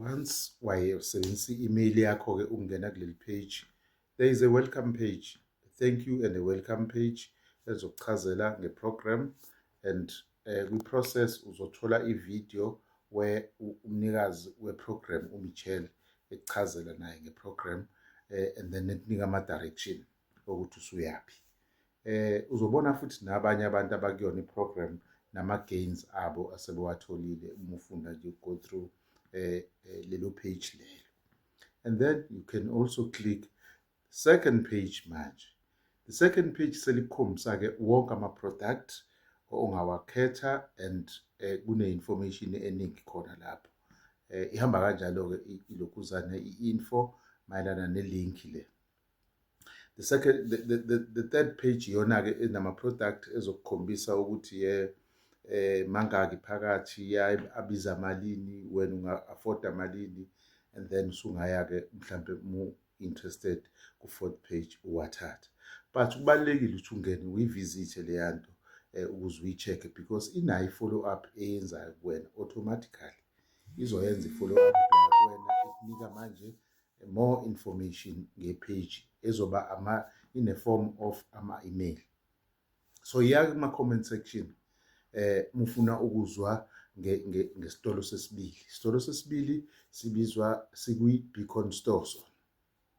once wayesebenzisa i-email yakho-ke ukungena kuleli page there is a welcome page thank you and a welcome page ezokuchazela nge-program and um kwi-process uzothola i-video where umnikazi we-program umichelle ekuchazela naye nge-program um and then ekunika ama-direction okuthi usuyaphi eh uzobona futhi nabanye abantu abakuyona iprogram nama gains abo asebewatholile uma ufunda nje go through eh, eh lelo page lelo and then you can also click second page manje the second page selikhombisa ke wonke ama product ongawakhetha and eh, kune information eningi khona lapho eh, ihamba kanjalo ke ilokhuzane i info mayelana ne link le the second the, the, the, the third page iyona ke enama product ezokukhombisa ukuthi ye eh mangaki phakathi ya abiza malini wena unga afford malini and then usungaya ke mhlambe mu interested ku fourth page uwathatha but kubalekile ukuthi ungene uyivisit leyanto eh, ukuze uyicheck because inayo follow up eyenzayo kuwena automatically izoyenza i follow up kuwena ikunika manje More information ngepage ezoba ama in a form of ama email. So ya kuma comment section eh mufuna ukuzwa ngesitolo sesibili. Isitolo sesibili sibizwa sikwi Beacon Store.